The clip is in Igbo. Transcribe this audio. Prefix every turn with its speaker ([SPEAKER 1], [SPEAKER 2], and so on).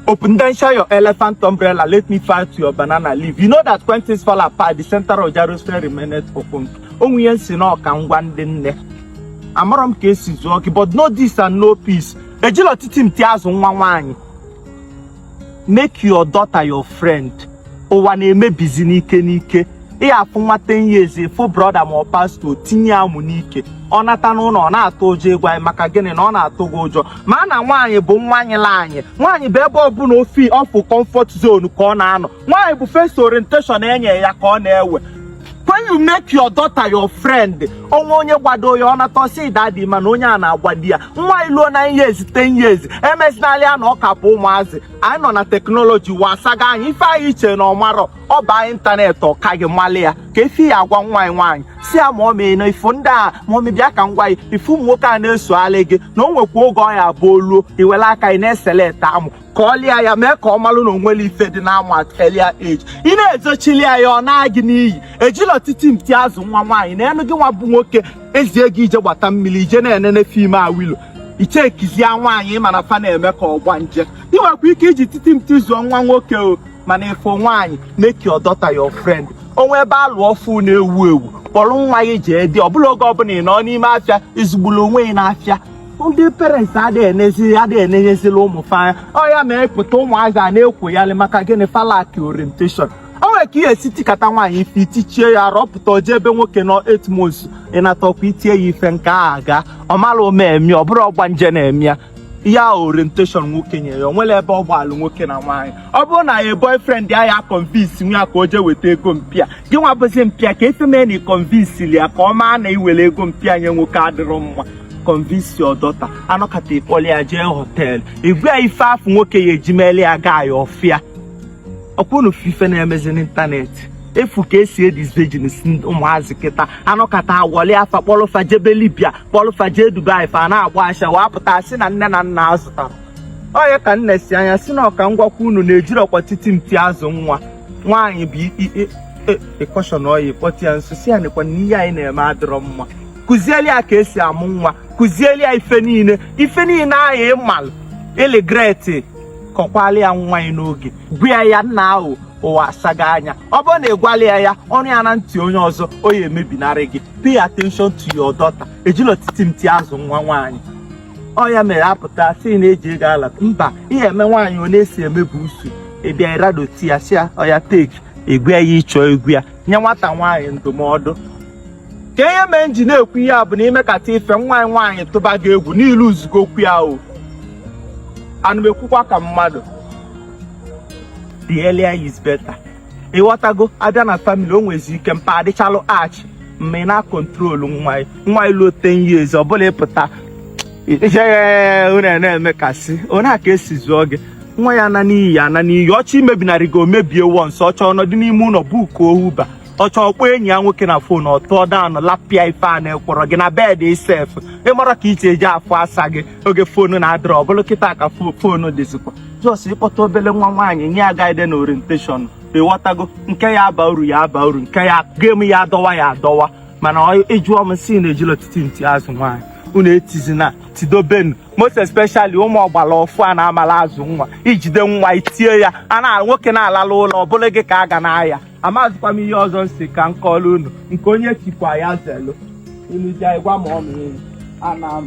[SPEAKER 1] Open then share your elephant umbrella. Let me fight your banana leaf. You know that when things fall apart, the center of Jerusalem remained open. O nwe ihe m sị na ọ ka m gwa ndị nne. Amarọ m ka e si zụọ gị, but know this and know peace. Ejirọ otiti mti azụ nwa nwaanyị. make your daughter your friend ụwa na-emebizi n'ike n'ike ị ya-afụ nwa ten years ị fụ brọda ma ọ pasto tinye amụ n'ike ọ nata n'ụlọ ọ na-atụ ụjọ ịgwa anyị maka gịnị na ọ na-atụ gị ụjọ ma na nwaanyị bụ nwaanyị la anyị nwaanyị bụ ebe ọbụla ofi ọ fụ comfort zone ka ọ na-anọ nwaanyị bụ first orientation e nye ya ka ọ na-ewe when you make your daughter your friend o nwe onye gbado ya ọ nata sị dadi mana onye a na-agbado ya nwa ị luo nine years ten years emezinala ya na ọ ka bụ ụmụazị anyị nọ na teknọlọji ụwa asaga anya ife ahụ i che na ọ marọ ọ baa ịntanetị ọ ka gị mali ya kee ife ị ya-agwa nwa gị nwaanyị sị ya mummy na ị fụ ndị a mummy bịa ka m gwa ị ị fụ ụmụ nwoke a na-esogharị gị na o nwekwa oge ọ ya-abụ o luo i were aka ị na-eselect amụ kọlị ya mee ka ọ malụ na o nwere ife dị n'ama earlier age ị na-ezochili ya ya ọ naa gị n'iyi ejirọ otiti mti azụ nwa nwaanyị na enu gị nwa bụ nwoke e zie gị i je gbata mmiri i je na-enene fim awilo i chekizie nwaanyị mana fa na-eme ka ọgbanje ị nwekwa ike iji otiti mti zụọ nwa nwoke o mana if ọ nwaanyị make your daughter your friend o nwe ebe a lụ ọfụụ na-ewu ewu kpọrọ nwa gị jee date ọ bụrọ oge ọbụla ị nọ n'ime afịa ị zụgburu onwe gị n'afịa ndị parents adịghị enezi adịghị enenyezila ụmụ fa anya ọ ya me a pụta ụmụazị a na-ekwoyalị maka gịnị fa lack orientation o nwere ka ị ya-esi tikata nwaanyị ife i tichaa ya ọ rọpụta o je ebe nwoke nọ eight months ọ natakwa i tie ya ife nke a ga ọ mara omemi ọ bụrụ ọgbanje na-eme ya ya orientation nwoke nye ya o nwere ebe ọ gbalụ nwoke na nwaanyị ọ bụrụ na ya boyfriend ya ya convince nwa gị ka o jee weta ego mpa ya gị nwa bụzi mpa ya kee ife mee na ị convince ya ka ọ maa na iwere ego mpa ya nye nwoke adịrọ mma convince your daughter a nọkata ị kpọlị ya jee họteelụ ị gwa ya ife afụ nwoke ya-eji melie ya gaa ya ọfịa ọ kwa unu fụ ife na-emezi n'ịntanetị ị fụ ka e si edisvirginsi ụmụazị kịta a nọkata a wọlịa fa kpọlụ fa jebe libya kpọlụ fa jee dubai fa na-agba ashawo a pụta sị na nne na nna azụtarọ onye ka nne si anya si na ọ ka m gwakwa unu na ejirọkwa otiti mti azụ nwa nwaanyị bụ ị caution oyi kpọtụ ya nso sị ya nekwa na ihe a ị na-eme adịrọ mma kụzieli ya ka e si amụ nwa kụzieli ya ife niile ife niile ahụ ị malụ ị regret kọkwalị ya nwa gị n'oge gwa ya na ụwa asaga anya ọ bụrụ na ị gwarọ ya ya ọ nụ ya na ntị onye ọzọ ọ ya-emebinarị gị pay attention to your daughter ejirọ otiti mti azụ nwa nwaanyị ọ ya mere a pụta sị na eji ego ala mba ihe eme nwaanyị ọ na-esi emebu usu ị bịa ị radote ya sị ya oya take ị gwa ya ihe ị chọ ịgwa ya nye nwata nwaanyị ndụmọdụ ka ihe mee nji na-ekwu ihe a bụ na i mekata ife nwa gị nwaanyị tụba gị egwu na i luzugo okwu ya o ana m ekwukwa ka mmadụ the earlier is better ịghọtago a bịa na famili o nwezi ike mpa adịchalụ harsh mma ị na-akọntrolu nwa gị nwaanyị luo ten years ọ bụla ịpụta ijeghe unu na-emekasị onye a ka esi zụọ gị nwa gị ana n'iyi ana n'iyi ọ chọọ imebinarị gị o mebie once ọ chọọ ọ nọdụ n'ime ụlọ bukuo Uber ọ chọọ kpọọ enyi ya nwoke na fon ọ tụọ down lapịa ife a na-ekwọrọ gị na bed gị sef ịmara ka iche eji afọ asa gị oge fonu na-adịrọ ọ bụrụ kịta ka fo- fonu dịzikwa just ị kpọta obele nwa nwaanyị nye ya guide na orientation ịghọtago nke ya aba uru ya aba uru nke ya gem ya adọwa ya adọwa mana ọ- ị jụọ m si na ejila otiti nti azụ nwaanyị unu etizina tidobenu most especially ụmụ ọgbara ọfụ a na-amala azụ nwa i jide nwa i tie ya a na nwoke na-alala ụlọ ọ bụrụ gị ka a ga na-aya amazikwa m ihe ọzọ m si ka m kọọlụ unu nke onye chikwa ya zelu unu ji gwa m ọnụ unu ana m